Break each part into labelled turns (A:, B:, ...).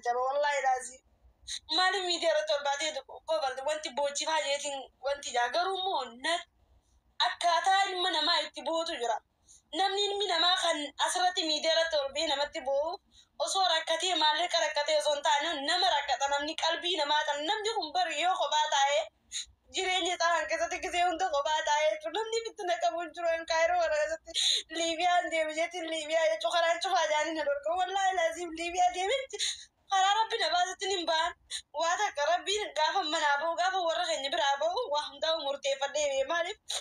A: jaba wallahi laazii maali miidiyaa irratti ol baatee kobalti wanti boochifaa jeetiin wanti jaa garuu immoo na akkaataa ilma namaa itti bootu jira namni ilmi namaa kan asirratti miidiyaa irratti ol ba'ee namatti boo'u osoo rakkatee maallaqa rakkatee osoo hin taane nama rakkata namni qalbii namaa kan namni kun bari yoo kophaa taa'ee jireenya isaa kan keessatti gisee hunda kophaa taa'ee jechuun namni itti naqamu hin jiru kan kaayiroo kana keessatti liibiyaan deeme jechuun liibiyaa jechuun karaan cufaa jaanii na dorgomu wallaahi laaziim liibiyaa deeme karaa rabbi na baasutti hin ba'an waa takka rabbiin gaafa manaa ba'u gaafa warra keenya biraa ba'u waa hundaa murteeffadhee maaliif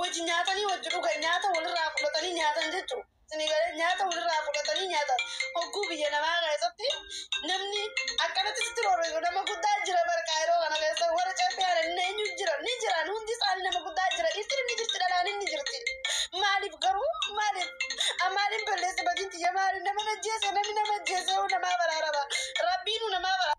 A: Wajji nyaatanii wajji dhugan nyaata walirraa fudhatanii nyaatan jechuudha. Isinii galee nyaata walirraa fudhatanii nyaatan. Hogguu biyya namaa keessatti namni akkanatti sitti roorrisu nama guddaa jira barqaa yeroo kana keessa warra ceephee haadha inni eenyu jira ni jiran hundi isaanii nama guddaa jira dhiirtiin inni jirti dhalaan inni jirti. Maaliif garuu maaliif maaliin balleessi badinti ya maali nama najjeese namni nama ajjeese namaa baraarama rabbiinu namaa baraarama.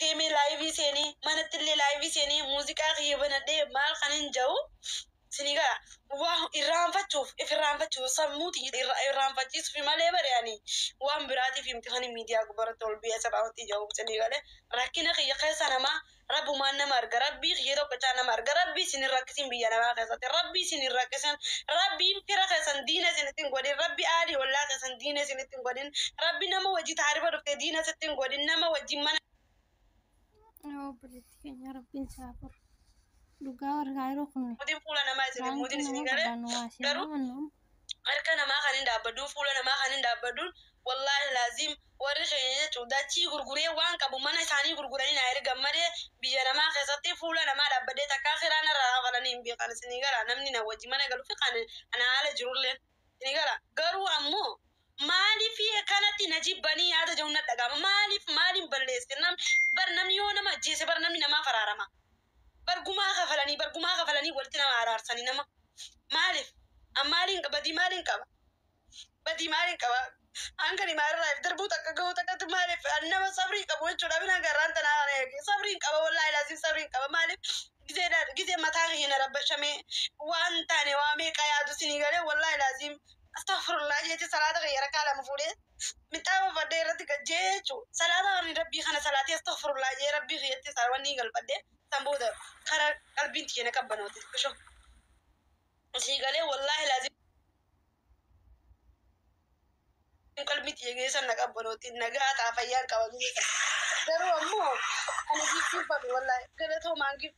A: deemee laayivii seenee manatti illee laayivii seenee muuziqaa kiyya banadhee maal kan hin ja'u sinii gala waa irraanfachuuf if irraanfachuuf sammuu tiyya irra- irraanfachiisuuf malee bare ani waan biraatiif miti kan miidiyaa gubbaratti ol biyya sirraa hojii ja'u sinii gale rakkina kiyya keessa namaa Rabbumaan nama arga rabbii kiyya tokkichaa nama arga rabbii isin hin rakkisin biyya namaa keessatti rabbii isin hin rakkisin rabbiin fira keessan diina isinitti hin godhin rabbi aalii ollaa keessan diina isinitti hin godhin rabbi nama wajji taarifa dhuftee diina sitti hin godhin nama wajjin mana obboleetti
B: keenya rabbiin isaa furu dhugaa warra kaayiroo kun mootiin fuula namaa
A: isin hin mootiin isin hin galee garuu harka namaa kan hin dhaabbaduun fuula namaa kan hin dhaabbaduun wallaahi laaziim warri keenya jechuun dachii gurguree waan qabu mana isaanii gurguranii naa ergan malee biyya namaa keessatti fuula namaa dhaabbadee takkaa kiraa narraa kafalanii hin beekan isinii gara namni na wajji mana galu fi kan ana haala jirullee isinii gara garuu ammoo maaliif kanatti na jibbanii yaada jedhu na dhaga'ama maaliif maaliin balleesse nam bar namni yoo nama ajjeese bar namni namaa faraarama Bar gumaa kafalanii bar gumaa kafalanii walitti nama araarsanii nama maaliif an maaliin qaba badii maaliin qaba badii maaliin qaba an kan imaa irraa if darbuu takka gahuu takkatti maaliif an nama sabrii qabu jechuudha binan garraan tanaa kana eege sabriin qaba wallaahi laasiin sabriin qaba maaliif gizee dha- gizee mataa kiyya na rabbashamee waan taane waa meeqa yaadu sinii galee wallaahi laasiin astaghfirullah jeeti salaata kiyya rakkaa lama fuudhee midhaa uffadhee irratti gajjee jechuun salaata ani rabbii kana salaatee astaghfirullah jee rabbii kiyyatti isaa wanni galfadhee san booda kara qalbiin tiyya na qabbanoote xiqqisho sii galee wallaahi laazim qalbii tiyya geessan na qabbanoote nagaa taa fayyaan qaba garuu ammoo ani giiftii fadhu wallaahi galatoomaan giiftii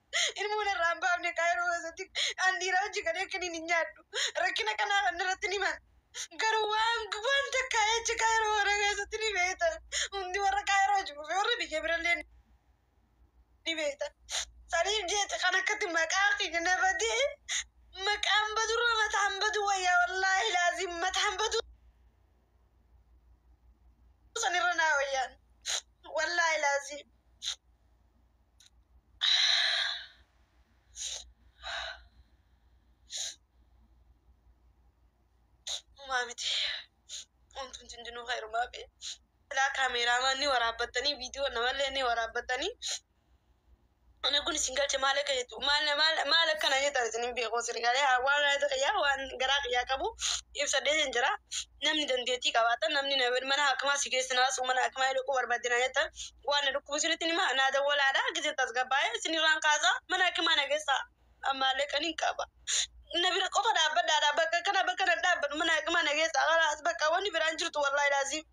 A: ilmuun irraa hin baafne kaayiroo keessatti an dhiiraa hojii galee kaniin hin nyaadhu rakkina kanaa kan irratti ni himan garuu waan waan takkaa jecha kaayiroo warra keessatti ni beekta hundi warra kaayiroo hojii fi warra biyya birallee ni beekta saniif jecha kan akkatti maqaa keenya na badee maqaan badurra mataan badu wayyaa wallaahi laazim mataan badu sanirra naa wayyaan wallaahi laazim Homaa miti. Wantoonni hundinuu heerumaa fi ilaa kaameeraamaan ni waraabbattanii viidiyoo namallee ni waraabbattanii. Ani kun isin galche maal akka jettu maal maal maal akkana jettan isin hin beeku sirrii galee waan gaazexaa kiyyaa waan garaa kiyyaa qabu ibsadhee sin jira. Namni dandeettii qabaatan namni na- mana hakimaa si geessinaa mana hakimaa dhaquu barbaadinaa jettan waan na dhukkubu isinitti hin hima naa dawwalaadha gizeen tasgabbaa'ee isinirraan kaasaa mana hakimaa na geessaa ammaallee kan hin qaba na bira qofa dhaabbadhaadha bakka kana bakka na dhaabbadhu mana hakimaa na geessaa kalaas bakka wanni biraan jirtu wallaahi laaziim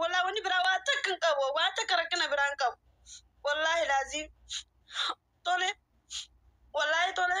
A: wallaahi wanni biraa waa takka hin qabu waa takka rakkina biraan qabu wallaahi laaziim tole wallaahi tole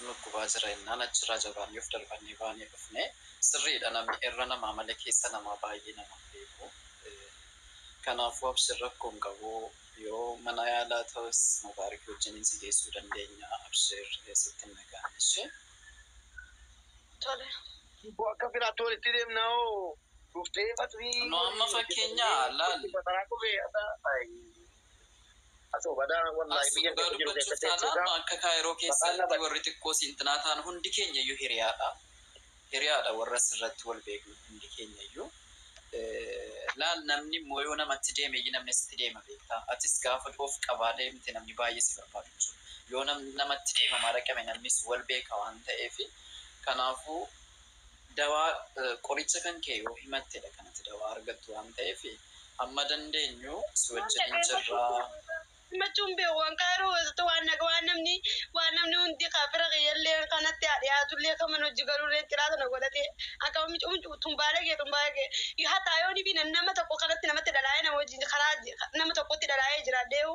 C: dhukkubaa jira ennaan achirraa jabaannee of darbannee baanee dhufne sirriidha namni irra namaa malee keessa namaa baay'ee nama hin beeku kanaafuu abshir rakkoo hin qabu yoo mana yaalaa ta'us mubaariki wajjiniin si geessuu dandeenya abshir sitti hin dhaga'amu ishee.
A: Tole. Hibbo
D: akka firaatti walitti deemnaa hoo? Nu amma fakkeenya laallu. As dhugaa dubbachuuf taanaan nu akka Kaayiroo
C: keessatti warri xiqqoo siintinaa taanu hundi keenyayyuu hiriyaadha. Hiriyaadha warra asirratti wal beeknu hundi keenyayyuu. Laal namni immoo yoo namatti deemeyyi namni asitti deema beektaa? Atis gaafa of qabaa deemte namni baay'ee si barbaadu jechuudha. Yoo namatti deemamaa dhaqame namnis wal beeka waan ta'eefi kanaafuu Dawaa, qoricha kan kee yoo himattedha kan ati dawaa argattu waan ta'eef hamma dandeenyu si wajjinin jirra. himachuu hin
A: beeku kan Cairo keessatti waan naga waan namni waan namni hundi kan fira kiyyalleen kan natti haa dhiyaatullee kan mana hojii galulleen ciraa tana godhatee akka mucuu mucuu tun baalagee tun baalagee hataa yoonifi nama tokko kanatti namatti dhalaa'ee nama wajjin karaa nama tokkotti dhalaa'ee jiraadheehu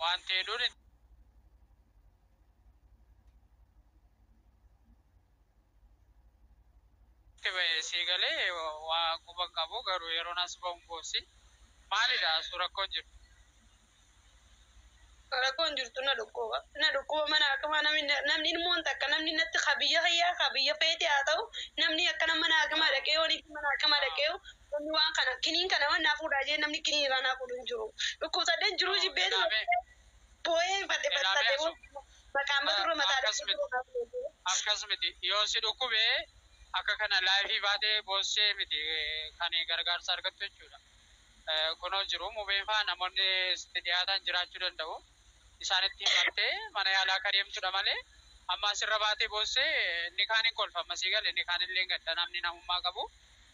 E: wanti hedduun hin jiru. Itti bahe sii galee waa quba hin qabu garuu yeroon as bahu hin boossi maalidha asuu rakkoon jiru.
A: Rakkoon jirtu na dhukkuba na dhukkuba mana hakimaa namni namni ilmoon takka namni natti ka biyya kiyyaa ka biyya feete haa ta'u namni akkana mana hakimaa dhaqee yoon mana hakimaa dhaqee Namni waan kana kiniin kana waan naa fuudhaa jee namni kiniin irraa naa fuudhu hin jiru. Dhukkubsadheen jiruu jibbee booyee hin fadhe barsadhe booyee maqaan badu irra mataa dhibee jiruu naa fuudhu.
E: Akkas miti yoo si dhukkube akka kana live baate boossee miti kan gargaarsa argattu jechuudha. Kunoo jiru mubeen faa namoonni sitti dhiyaatan jiraachuu danda'u isaanitti himattee mana yaalaa akka deemtudha malee amma asirra baatee boossee inni kaan hin kolfa amma sii gale inni kaan illee hin gadda namni namummaa qabu.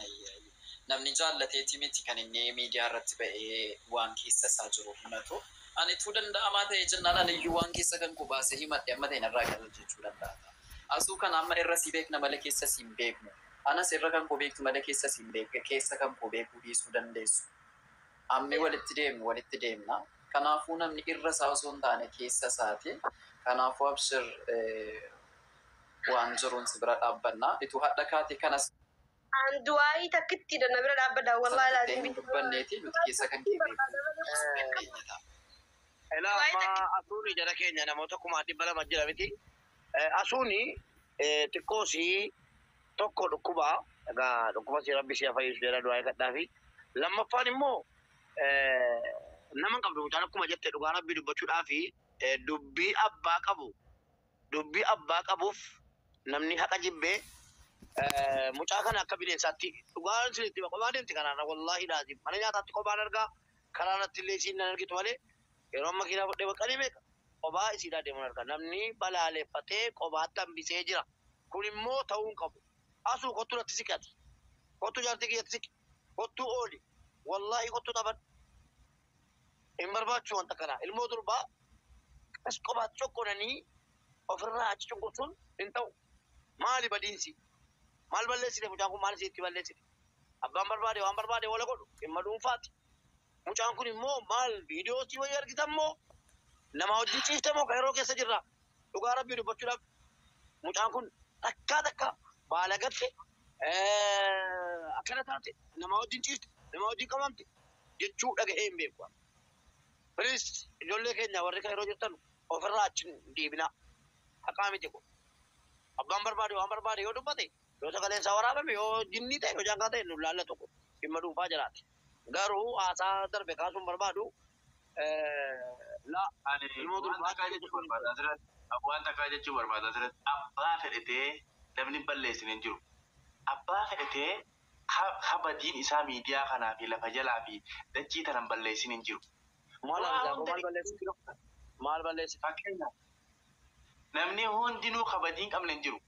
D: Ayii ayii
C: namni jaallateeti miti kan inni miidiyaa irratti ba'ee waan keessa isaa jiru himatu. Anituu danda'amaa ta'ee jennaan aniyyuu waan keessa kan koo baasee himadhe amma ta'e narraa qallal jechuu danda'a ta'a. Asuu kana amma irra si beekna malee keessa si hin beeknu. Anas irra kan koo beektu malee keessa si hin beekne keessa kan koo beekuu dhiisuu dandeessu. Ammi walitti deemnu walitti deemna. Kanaafuu namni irra isaa osoo hin taane keessa isaati. Kanaafuu Abshir waan jiruun si bira dhaabbanna ituu hadha kaate kanas An du'aa'ii
A: takkittidha na bira dhaabbadha
C: wallahi sana jettee
A: hin laazim.
C: dubbanneeti
A: nuti
C: keessa kan kee beeknu Eh, keenya
D: ta'a. Ela Du'aa'ii amma takkitti asuuni jara keenya namoota kumaa dhibba lama jira miti. Eh, Asuuni eh, xiqqoo si tokko dhukkuba egaa dhukkuba si rabbi si fayyisu jedha du'aa eegadhaa fi lammaffaan immoo eh, nama hin qabdu mucaan akkuma jette dhugaa rabbi dubbachuudhaa fi eh, dubbii abbaa qabu Dubbi abbaa qabuuf namni haqa jibbe mucaa kana akka bineensaatti dhugaa isinitti hima qophaa deemti karaarra wallaahi laazim mana nyaataatti qophaan arga karaarrattillee isiin nan argitu malee yeroon makiinaa fudhee baqqalii meeqa qophaa isiidhaa deemun arga namni balaaleffatee qophaatti hambisee jira kun immoo ta'uu hin qabu asuu kottu natti siqi ati kottu jaartii kiyyatti siqi kottu ooli wallaahi kottu taphadhu Hin barbaachisu wanta kana. Ilmoo durbaa qas qobaatti cocconanii ofirraa achi cunqursuun hin ta'u. Maali badiinsi? Maal balleessite mucaan kun maal isiitti balleessite? Abbaan barbaade waan barbaade wala godhu dhimma dhuunfaati. Mucaan kun immoo maal viidiyoo sii wayii argitan moo namaa wajjin ciifte moo kan yeroo keessa jirra? Dhugaa rabbii dubbachuudhaaf mucaan kun takkaa takka baalagatte akkana taate namaa wajjin ciifte namaa wajjin qabamte jechuu dhaga'ee hin beeku. Piliis ijoollee keenya warri kan yeroo jirtan ofirraa achi hin deebinaa. Haqaa miti kun. Abbaan barbaade waan barbaade yoo dubbate yoo sagaleen isaa waraabame yoo jinnii ta'e yoo jaankaa ta'e nu laallatu kun dhimma dhuunfaa jiraati. Garuu haasaa darbe kaasuu hin barbaadu. La. Ani waan takkaa jechuu barbaada asirratti.
F: Waan takkaa jechuu barbaada asirratti. Abbaa fedhe ta'ee namni hin balleessine hin jiru. Abbaa fedhe ta'ee ka, ka badiin isaa miidiyaa kanaa fi lafa jalaa fi dachii tana hin balleessin hin jiru. Maal Waa argitaa koo hunda maal balleesse? dhiisanii.
D: Maal balleesse? Fakkeenyaaf
F: Namni hundinuu kabajii hin qabne hin jiru.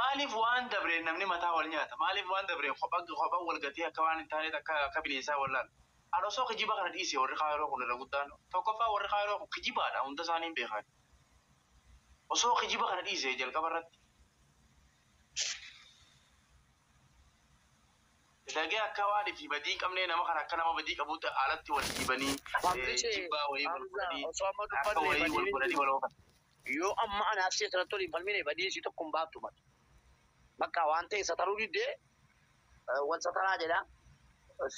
F: Maaliif waan dabreen namni mataa wal nyaata? Maaliif waan dabreen kopha kopha wal gatee akka waan hin taaneetti akka akka bineensaa wal laala? An osoo kijiba kana dhiisee warri Kaayiroo kun irra guddaan tokkoffaa warri Kaayiroo kun kijibaadha hunda isaanii hin beekaani. Osoo kijiba kana dhiisee jalqaba irratti. Lagee akka waan fi badii hin qabnee nama kana akka nama badii qabuutti alatti wal dhiibanii jibbaa wayii wal godhanii akka wayii wal godhanii wal oofan. Yoo amma
D: ani Arsii asirratti waliin falmine badii isii tokko hin baaftu bar. Baqqaa waan ta'e sataruu diddee wal sataraa jedha.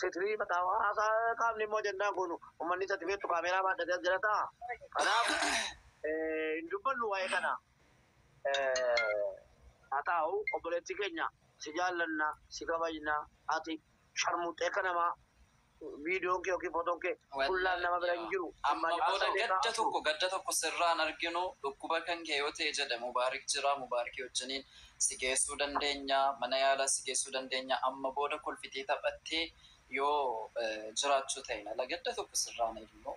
D: Sitrii baqqaa haasaa qaamni immoo ajandaan kun ummanni isatti beektu kaameeraa baadhatee as jira ta'a. Kanaaf hin dubbannu waa'ee kanaa. haa taa'u obboleettii keenya si jaallanna si kabajna ati sharmuuxxee akka namaa viidiyoon kee yookiin footoon kee fullaan nama bira hin jiru amma booda gadda
C: tokko gadda tokko sirraan arginu dhukkuba kan kee yoo ta'e jedhe mubaarik jira mubaarikii wajjiniin si geessuu dandeenya mana yaalaa si geessuu dandeenya amma booda kolfitee taphattee yoo jiraachuu ta'e lala gadda tokko sirraan eegnu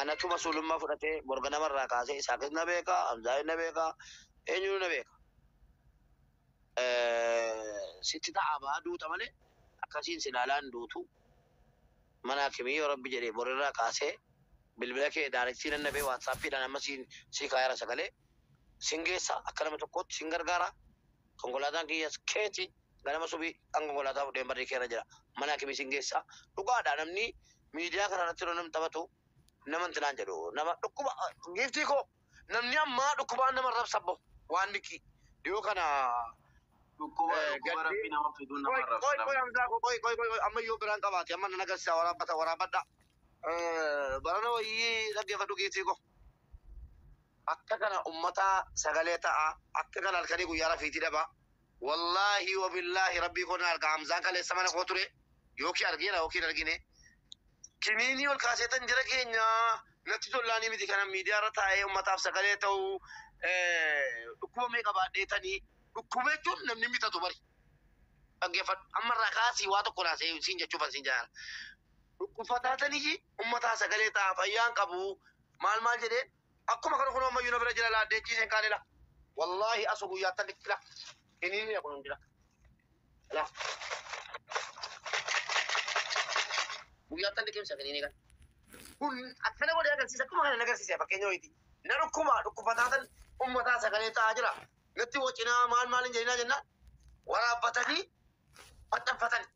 D: Anatu masuulummaa fudhatee morganama irraa kaasee Isaaqis na beeka, Hamzaanis na beeka, eenyunuu na beeka. Sitti ta'aa ba'a duuta malee akkasiin si ilaalaa hin duutu. Mana hakimii yoo rabbi jedhe borirraa kaasee bilbila kee daarektii nan dhabee waatsaappiidhaan amma siin sii kaayara sagalee. Sin geessa akka nama tokkootti sin gargaara. Konkolaataan kiyyas keeti. Ganama subii an konkolaataa fudheen barrii keerra jira. Mana hakimii sin geessa. Dhugaadha namni miidiyaa kana irratti yeroo namni taphatu nama inti naan jedhu nama dhukkuba giiftii koo namni ammaa dhukkubaan nama arrabsa abbo waan diqqii dhiyoo kana Dhukkuba eh, dhukkuba gaddee
F: rabbii nama fiduu nama qoy arrabsa qoy qoy namni. hamzaa koo qoy qoy qoy qoy amma
D: yoo biraan qabaate amma nan agarsiisa waraabbata waraabbadha Eh, barana wayyii dhaggeeffadhu giiftii koo akka kana ummataa sagalee ta'a akka kana halkanii guyyaa rafiitii dhabaa Wollahi wobillahi rabbii koo nan arga hamzaan kaleessa mana koo ture yookiin argeera yookiin hin argine kiniinii ol kaaseetan jara keenya natti tollaanii miti kanan miidiyaa irra taa'ee ummataaf sagalee ta'u dhukkuba meeqa baadheetanii dhukkuba jechuun namni bitatu bari dhaggeeffadhu amma irraa kaasii waa tokko naa siin jechuufan siin jaara dhukkubsataatanii ummataa sagalee ta'aa fayyaan qabu maal maal jedhee Akkuma kana kunoo ammayyuu na bira jira laa deechii isin kaane laa. Wallaahi asu guyyaa tan dhiqxila. Hiniinii kun hundila. Laa. Guyyaa tan dhiqimsa hiniinii kan. Kun akkana godhee agarsiisa akkuma kana nagarsiisa fakkeenya wayiiti. Na dhukkuba dhukkubataa tan ummataa sagalee ta'aa jira. Natti wacinaa maal maal hin jedhinaa jennaan waraabbatanii maxxanfatani.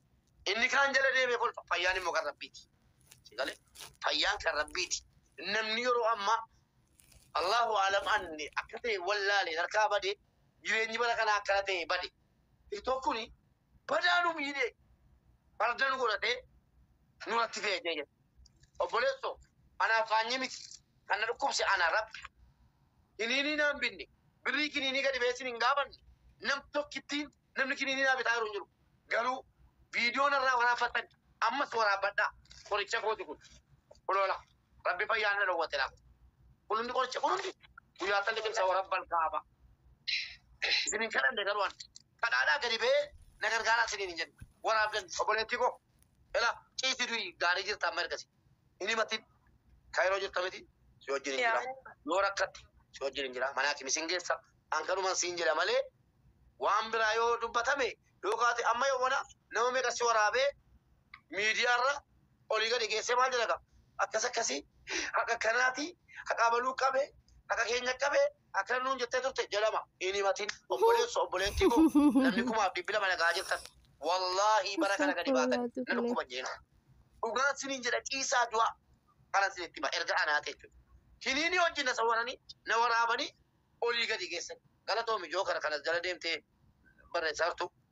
D: Inni kaan jala deemee kolfa. Fayyaan immoo kan Rabbiiti. Si galee? Fayyaan kan Rabbiiti. Namni yeroo ammaa Allahu aalam anni akka ta'e wallaalee harkaa bade jireenyi bara kanaa akkana ta'e bade. TikTok kuni badaa nu miidhee farda nu godhatee nuratti fe'ee jee jedhe. Obboleesso anaa faanyii miti kan na dhukkubse anaa rabbi. Kiniinii naan binne birrii kiniinii gadi beessin hin gaafanne nam tokkittiin Namni kiniinii naa bitaa jiru hin jiru. Garuu viidiyoo narraa waraabbattan ammas waraabbadhaa. Qoricha kooti kun. Kunoola. Rabbi fayyaa na dhowwate laata. Kun hundi qoricha kun hundi guyyaa akka liqimsa warabbal kaaba. Isin hin kadhanne garuu an. Kadhaadhaa gadi ba'ee na gargaaraa isiniin hin jenne. Waraabdan obboleettii koo. Ela ciisi du'i gaarii jirta amma ergasi. Hin himatin. Kayiroo jirta miti? Si wajjinin jira. Yoo rakkatte si wajjinin jira. Mana hakimi sin geessa. An kanuman siin jedha malee waan biraa yoo dubbatame yoo kaate amma yoomana nama meeqa si waraabee miidiyaarra olii gadi geessee maal jedha kaa? Akkas akkasii haqa akkanaati haqaa baluu qabe haqa keenya qabe Akkana nuun jettee turte jalama hin himatin obboleesso obboleettii koo namni kumaaf dhibbi lama nagaa jirtan wallaahii bara kana gadi baatan na dhukkuba jeen dhugaan siniin jedha ciisaa du'a kanan sinitti hima erga anaate jechuudha kiniinii wajjin na sawwaranii na waraabanii olii gadi geessan galatoomi jookara kanas jala deemtee barreessaa jirtu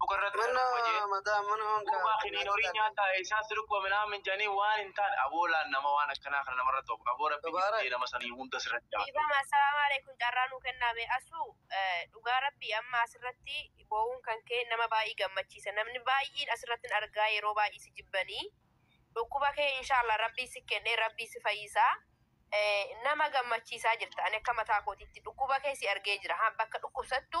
F: mukarratti Mana argama jee mataa mana honkaa duuba kiniin kinaati horii laata. nyaata isaa sirqwa minaamin janii waan hin taane aboo laan nama waan akkanaa kana namarratti of aboo rabbi Tabaarak. dhiftee nama sanii hunda sirratti jabaadhu. Dhiifama assalaamu aleykum
G: carraa nuu kennaa mee Asuu dhugaa rabbii amma asirratti boo'uun kan kee nama baay'ee gammachiisa namni baay'een asirrattin argaa yeroo baay'ee si jibbanii dhukkuba kee inshaallah rabbii si kennee rabbii si fayyisaa Eh, nama gammachiisaa jirta ani akka mataa kootiitti dhukkuba kee si argee jira ha bakka dhukkubsattu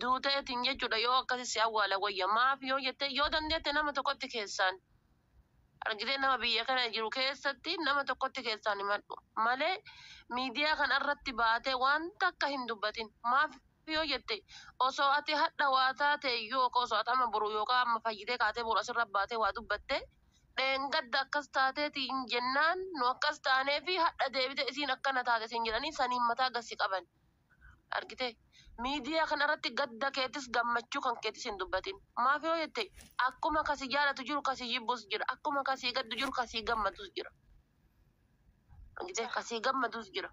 H: Duuteetin jechuudha yoo akkasi si awwaala wayya maaf yoo jettee yoo dandeette nama tokkotti keessaan argitee nama biyya kana jiru keessatti nama tokkotti keessaan himadhu malee miidiyaa kana irratti baatee waan takka hin dubbatin maaf yoo jette osoo ati hadha waa taatee iyyuu yookaan osoo ati amma boru yookaan amma fayyitee kaatee boru asirra baatee waa dubbatte dheengadda akkas taateeti hin jennaan nu akkas taanee fi hadha deebite isiin akkana taate siin jedhanii saniin mataa gassi qaban. Argitee? Miidiyaa kana irratti gadda keetis gammachuu kan keetis hin dubbatin. Maaf yoo jette akkuma ka si jaalatu jiru ka si jibbus jira. Akkuma ka sii gaddu jiru ka sii gammadus jira. Argitee? Ka sii gammadus jira.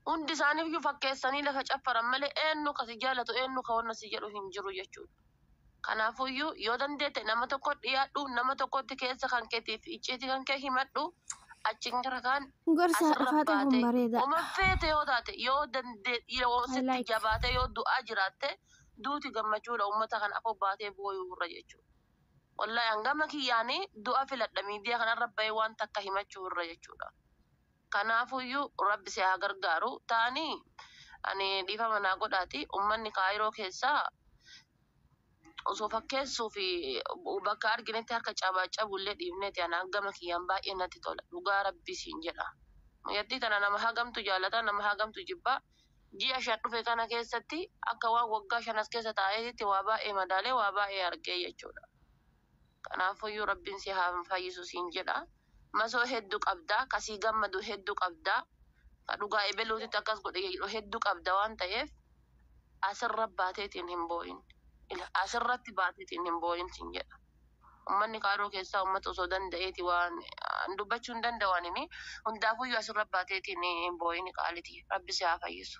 H: Hundi isaaniiyyuu fakkeessanii lafa caffaran malee eenyu ka si jaalatu eenyu ka wanna si jedhu hin jiru jechuudha. Kanaafuyyuu, yoo dandeette nama tokkotti dhiyaadhu, nama tokkotti keessa kan keetii fi icciitii kan kee himadhu, achiin gara kaan Gorsa asirra Faaxee
B: kun baatee. bareedaadha. Uma feete yoo taate,
H: yoo dandee, yoo I sitti like. jabaatee, yoo du'aa jiraatte, duuti gammachuudha uummata kana afoo baatee booyuu irra jechuudha. Wallahi an gama kiyyaani du'a filadha miidiyaa kanarra bahee waan takka himachuu irra jechuudha. Kanaafuyyuu Rabbi si haa gargaaru. Taanii ani dhiifama naa godhaati ummanni Kaayiroo keessaa osoo fakkeessuu fi bakka arginetti harka cabaacabu illee dhiifneeti ana gama kiyyaan baay'ee natti tola dhugaa Rabbii siin jedha. Mucattii tana nama hagamtu jaalata nama hagamtu jibba ji'a shan dhufe kana keessatti akka waan waggaa shan as keessa taa'eetitti waa baay'ee madaalee waa baay'ee argee jechuudha. Kanaafuyyuu Rabbiin si haa fayyisu siin jedha. Masoo heddu qabda ka sii gammadu heddu qabda ka dhugaa ebeluutitti akkas godhe jedhu heddu qabda waan ta'eef asirra baateetiin hin boo'in asirratti baateetiin hin boo'in siin jedha ummanni kaaroo keessaa ummata osoo danda'eeti waan an dubbachuu hin danda'u anini hundaafuyyuu asirra baateetiin hin boo'in qaaliti rabbi si haa fayyisu.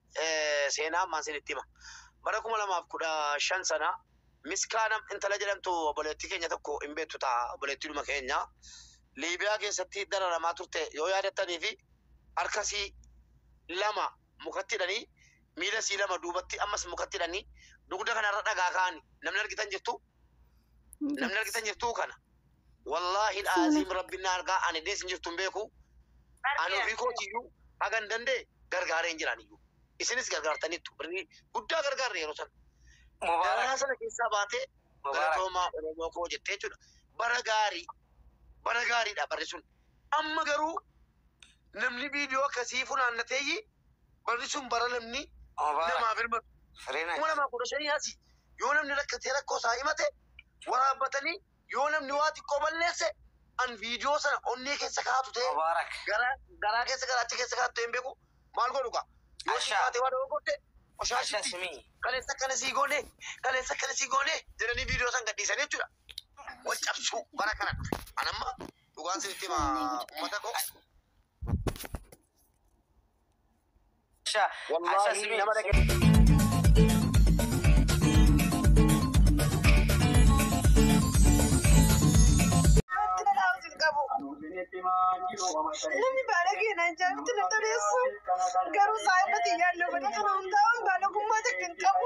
D: seenaa ammaan sinitti hima. Bara kuma lamaaf kudha shan sana Miskaanam intala jedhamtu obboleettii keenya tokko hin beektu ta'a obboleettiidhuma keenya Liibiyaa keessatti dararamaa turte yoo yaadattanii fi harka sii lama mukatti hidhanii miila sii lama duubatti ammas mukatti hidhanii dugda kanarra dhagaa kaa'ani namni argitan jirtu namni argitan jirtu kana Wallaahi Aziim Rabbiin na argaa ani dees hin jirtu hin beeku. Ani ofii kootiyyuu hagan danda'e gargaaree hin jiraan iyyuu. Isinis gargaartaniittu birrii guddaa gargaarre yeroo sana. Dararaa sana keessaa baatee galatoomaa Oromoo koo jettee jechuudha. Bara gaarii bara gaariidha barri sun. Amma garuu namni viidiyoo akkasii funaannateeyyi barri sun bara namni namaa birmatu. Kuma lamaa kudha shanii asi yoo namni rakkatee rakkoo isaa himate waraabbatanii Yoo namni waa xiqqoo balleesse an viidiyoo sana onnee keessa kaatu ta'e Mubaarak. garaa garaa keessa garaacha keessa kaatu ta'e hin beeku maal
I: godhu
D: kaa. Yoo Ashaa. ishii taatee waa dogoggorte Ashaa qoshaashitti simii. kaleessa
I: akkana sii goone
D: kaleessa akkana sii goone jedhanii viidiyoo san gadhiisanii jechuudha. Wal cabsuu bara kana dhufe. An amma dhugaan sinitti hima uummata koo.
I: Sha. Asa simi nama dhage. Wanti
A: na dhaabatu hin qabu. Namni baala keenan jaamti na toleessu. Garuu saayibati yaadne godhatu na hundaa'uun baalagummaa takka hin qabu.